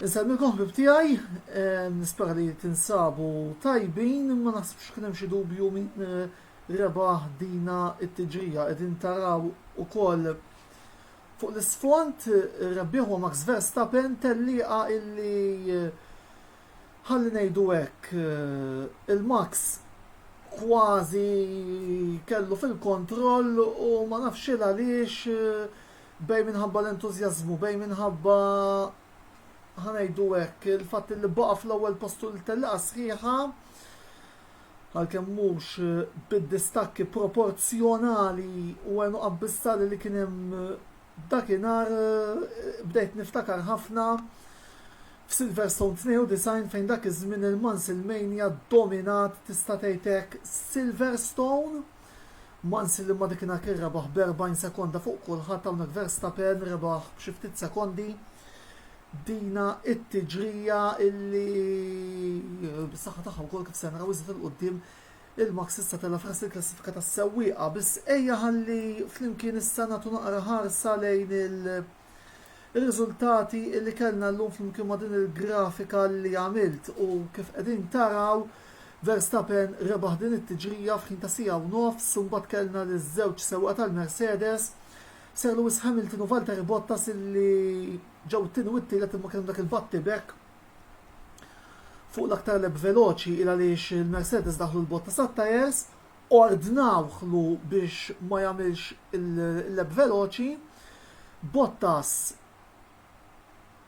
Inselmilkom ħbieb tiegħi, nispera li tinsabu tajbin, ma naħsibx kien hemm xi dubju min rebaħ dina t-tiġrija. Qegħdin taraw ukoll fuq l-isfond ir-rebbieħ huwa Max Verstappen, tellieqa illi ħalli ngħidu hekk il-Max kważi kellu fil-kontroll u ma nafx il għaliex bejn minħabba l-entużjażmu, bejn minħabba, ħa ngħidu hekk, il-fatt li baqa' fl-ewwel post tul it-tellieqa sħiħa, għalkemm mhux bid-distakki proporzjonali u għenu abbissali li kien hemm dakinhar bdejt niftakar ħafna f'Silverstone 92 fejn dak iż-żmien il-Mansilmania ddominat tista' tgħid hekk Silverstone Mansell imma dakinhar kien rebaħ b'erbgħin sekonda fuq kulħadd hawnhekk Verstappen rebaħ b'xi ftit sekondi. Dina it-tiġrija illi bis-saħħa tagħha wkoll kif se naraw iżda il-qudiem il-Max issa tela' fras il-klassifika tas-sewwieqa biss ejja ħalli flimkien issa nagħtu naqra ħarsa lejn il- Ir-riżultati li kellna llum flimkien ma' din il-grafika li għamilt u kif qegħdin taraw Verstappen rebaħ din it-tiġrija f'ħin ta' siegħa u nofs u mbagħad kellna liż-żewġ sewwieqa tal-Mercedes, Sir Lewis Hamilton u Valtteri Bottas illi ġew it-tieni u t-tielet imma kien hemm dak il-battibekk fuq l-aktar lap veloċi il għaliex il-Mercedes daħlu l-Bottas għat-tyres. Ordnawhlu biex ma jagħmilx il-lep veloċi, Bottas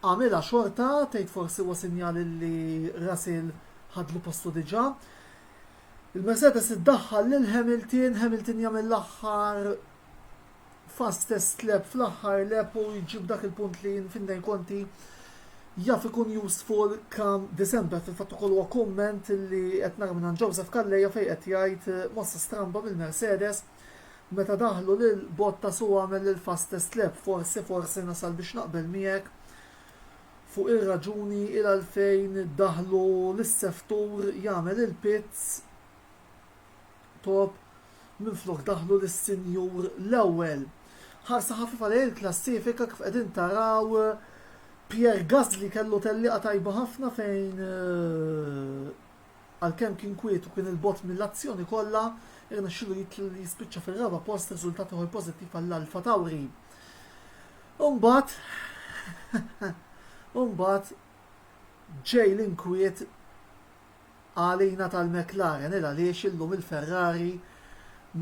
għamilha xorta, tgħid forsi huwa sinjal illi Russell ħadlu postu diġà. Il-Mercedes iddaħħal lil Hamilton, Hamilton jagħmel l-aħħar fast first lap fl-aħħar lap u jġib dak il-punt li Finlay Conti jaf ikun useful kam December fil-fatt ukoll huwa kumment li qed nara minn Joseph Calleja fejn qed jgħid eh, mossa stramba mill-Mercedes meta daħlu lil Bottas u għamel il-fastest lap forsi forsi nasal biex naqbel miegħek fuq ir-raġuni il għalfejn daħlu lis-seftur jagħmel il-pits Top minflok daħlu lis-Sinjur l-ewwel. Ħarsa ħafifa lejn il-klassifika kif qegħdin taraw Pierre Gasly kellu tellieqa tajba ħafna fejn eh, għalkemm kien kwiet u kien il-bot mill-azzjoni kollha, irnexxilu jispiċċa fir-raba post riżultat ieħor pożittiv għall-Alfa Tauri. Umbat, umbat, ġej l-inkwiet għalina tal-McLaren il għaliex illum il-Ferrari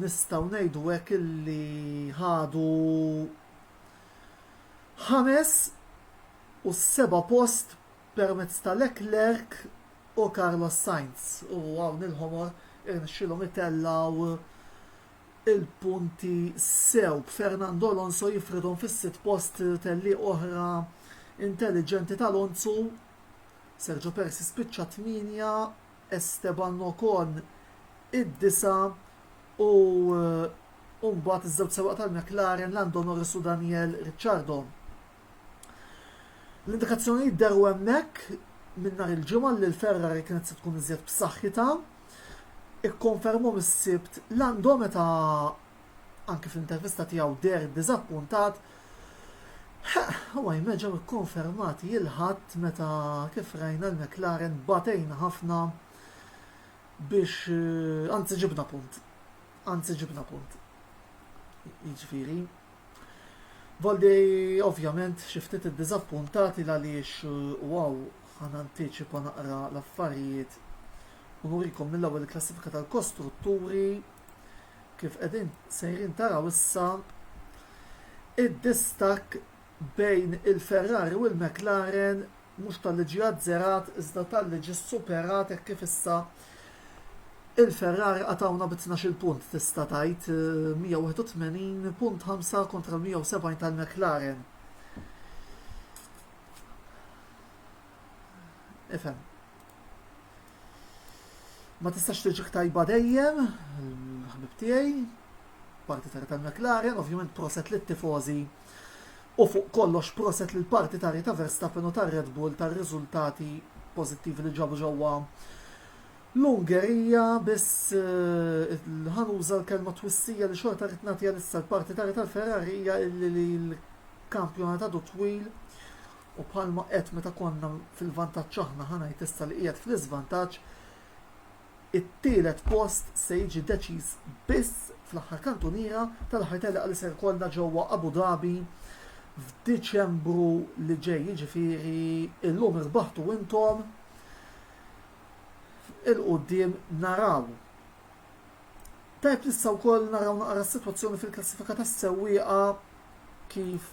nistgħu ngħidu hekk illi ħadu ħames u s-seba' post permezz ta' Leclerc u Carlos Sainz u hawn il-ħomor irnexxielhom itellgħu il-punti sew b'Fernando Alonso jifridhom fis-sitt post tellieq oħra intelliġenti ta' Alonso Sergio Perez jispiċċa t-tmienja, Esteban Ocon id-disa' u u mbagħad iż-żewġ sewwaq tal-McLaren Lando Norris u Daniel Ricciardo. L-indikazzjonijiet deru hemmhekk minn nhar il-ġimgħa li l-Ferrari kienet se tkun iżjed b'saħħitha. Ikkonfermhom is-Sibt Lando meta anki fl-intervista tiegħu deher diżappuntat, huwa jmel ġew ikkonfermati il-Ħadd meta kif rajna l-McLaren batejna ħafna biex anzi ġibna punt. Anzi ġibna punt. Jiġifieri Valdi ovvjament xi ftit iddiżappuntati għaliex u għaw ħan antiċipa naqra l-affarijiet u nurikom mill-ewwel klassifika tal-kostrutturi Kif qegħdin sejrin taraw issa, id-distakk bejn il-Ferrari u l-McLaren mhux talli ġie azzerat iżda talli ġie superat hekk kif issa il-Ferrari qatgħuna bi tnax-il punt tista' tgħid, 181 punt ħamsa kontra l-170 tal-McLaren. Ifhem. Ma tistax tiġik tajba dejjem, ħbib tiegħi, parti tarja tal-McLaren, ovvjament proset li tifozi u fuq kollox proset li l-parti tarja ta' Verstappen u ta' Red Bull ta' riżultati pozittivi li ġabu ġewwa l-Ungerija biss eh, ħanuża l-kelma twissija li xorta rrid nagħtiha issa l-parti tarja tal-Ferrarija li l-kampjonat għadu twil u bħalma għedt meta konna fil-vantaġġ aħna ħa ngħid issa li qiegħed fl-iżvantaġġ, it-tielet post se jiġi deċiż biss fl-aħħar kantuniera tal-aħħar telqa li se jkollna ġewwa Abu Dhabi f'Diċembru li ġej, jiġifieri illum irbaħtu intom 'il quddiem naraw. Tajb nistgħu wkoll naraw naqra s-sitwazzjoni fil-klassifika tas-sewwieqa kif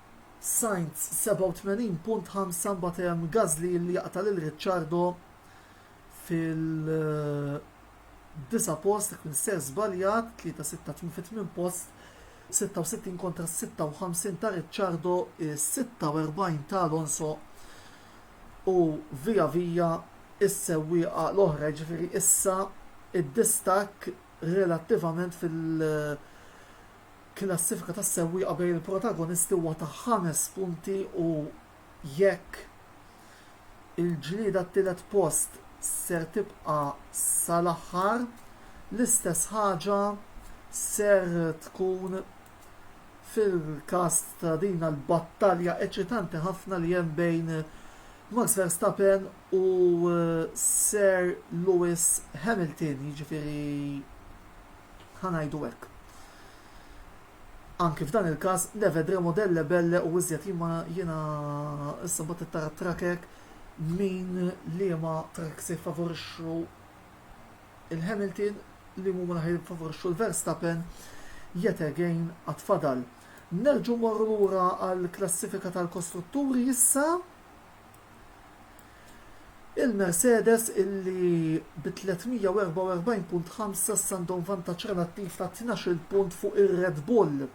Sainz 87.5 mbagħad hemm Gasly li jaqta' lil Ricciardo fil-disa' post jekk minsejr żbaljat, 3-6 fi tmien post, 66 kontra 56 ta' Ricciardo, 46 ta' Alonso u via via s-sewwieqa l-oħra jiġifieri issa d-distakk relattivament fil- Klassifika tas-sewwieqa bejn il-protagonisti huwa ta' ħames punti u jekk il-ġlieda għat-tielet post ser tibqa' sal-aħħar, l-istess ħaġa ser tkun fil-każ ta' din l-battalja eċitanti ħafna li hemm bejn Max Verstappen u Sir Lewis Hamilton, jiġifieri ħa ngħidu hekk. Anki f'dan il-każ, nevedremo delle belle u iżjed jien ma jiena issa mbagħad tara tracker min liema tracks jiffavorixxu il-Hamilton li huma naħi jiffavorixxu l-Verstappen yet again għatfadal. Nerġu morru lura għall-klassifika tal-kostrutturi issa Il-Mercedes illi bi 344 punt ħamsa issa għandhom vantaġġ relattiv ta' tnax-il punt fuq ir-Red Bull.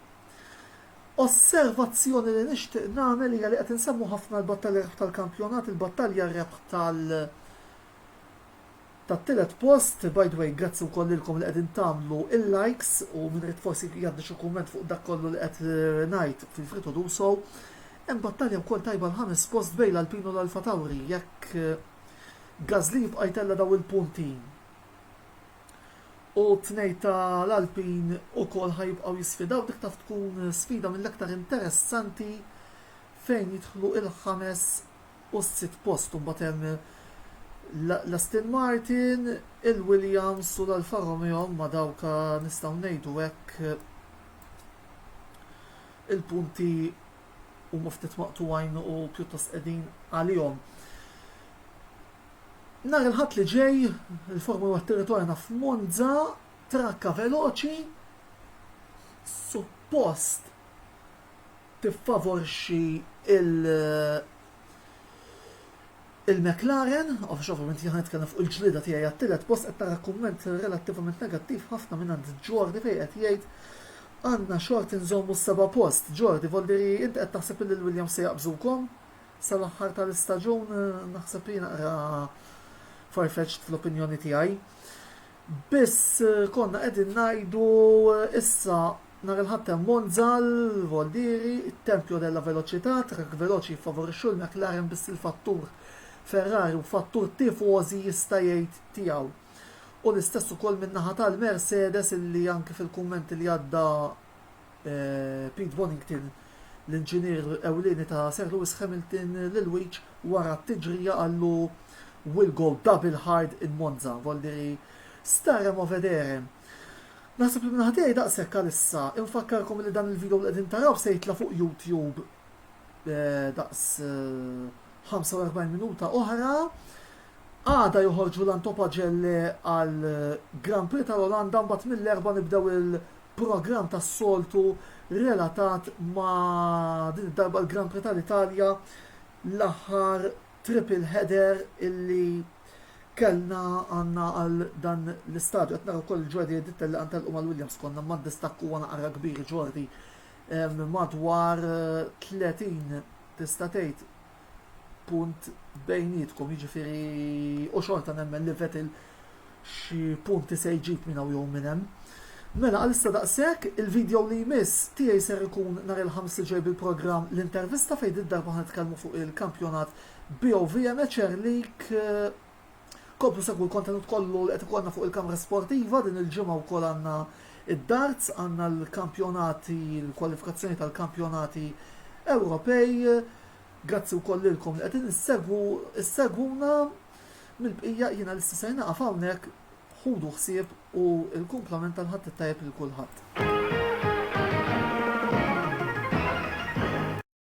Osservazzjoni li nixtieq nagħmel hija li qed insemmu ħafna l-battalja rebħ tal-kampjonat, il-battalja rebħ tal- tat-tielet post, by the way grazzi wkoll lilkom li qegħdin tagħmlu il-likes u min irid forsi jgħaddi xi kumment fuq dak kollu li qed ngħid fil-Free To Do So. Hemm battalja wkoll tajba l-ħames post bejn l-Alpine u l-Alfa Tauri jekk Gasly jibqa' jtella' dawn il-punti u t-tnejn ta' l-Alpine ukoll ħa jibqgħu jisfidaw dik taf tkun sfida mill-aktar interessanti fejn jidħlu il-ħames u s-sitt post u mbagħad hemm l-Aston Martin, il-Williams u l-Alfa Romeo huma dawk nistgħu ngħidu hekk il-punti huma ftit maqtugħin u pjuttost qegħdin għalihom. Nhar il-ħadd li ġej, il-Formula Territorjana f'Monza, trakka veloċi, suppost tiffavorixxi lill-McLaren, għax ovvjament jien ħa nitkellem fuq il-ġlieda tiegħi għat-tielet post, qed nara kumment relattivament negattiv ħafna mingħand Jordi fejn qed jgħid għandna xort inżommu s-seba' post. Jordi, vuol dire inti qed taħseb illi l-Williams se jaqbżukom sal-aħħar tal-istaġun? Naħseb li naqra far-fetched fl-opinjoni tiegħi. Biss konna qegħdin ngħidu issa nhar il-Ħadd hemm Monza, l-Voldieri, it-Tempio della Velocità, trakk veloċi jiffavorixxu l-McLaren biss il-fattur Ferrari u fattur tifożi jista' jgħid tiegħu. U l-istess ukoll min-naħa tal-Mercedes illi anki fil-kumment li għadda, Pete Bonnington, l-inġinier ewlieni ta' Sir Lewis Hamilton l-ilwieġ wara t-tiġrija qallu We'll go double hard in Monza, voldiri Starem a vedere. Naħseb li minn ħatijaj daqshekk għalissa, infakkarkom li dan il-video li qegħdin taraw se jitla' fuq YouTube daqs 45 minuta oħra. Għada joħorġu l-antopagelle għal Grand Prix tal-Olanda mbagħad mill-erba' nibdew il- programm tas-soltu relatat ma' din id-darba l-Grand Prix tal-Italja, l-aħħar triple header illi kellna għandna għal dan l-istadju. Qed nara wkoll il-ġwadi Ditta li qed telqu mal-Williams konna ma' distakk huwa naqra kbir ġordi madwar 30 tista' tgħid punt bejnietkom, jiġifieri u xorta nemmen li Vettel xi punti se jġib minn hawn jew minn hemm. Mela għalissa daqshekk, il-video li jmiss tiegħi ser ikun nhar il-Ħamis li ġej bil-programm l-intervista fejn did-darba ħa nitkellmu fuq il-kampjonat BOVMHR League Komplu segwu l-kontenut kollu li qed ikollna fuq il-kamra sportiva, din il-ġimgħa wkoll għandna id-darts, għandna l-kampjonati, l-kwalifikazzjoni tal-kampjonati Ewropej. Grazzi wkoll lilkom li qegħdin issegwu, issegwuna mill-bqija jiena l-issa se naqaf hawnhekk ħudu ħsieb u l-kumplament tal-ħadd it-tajjeb lil kulħadd.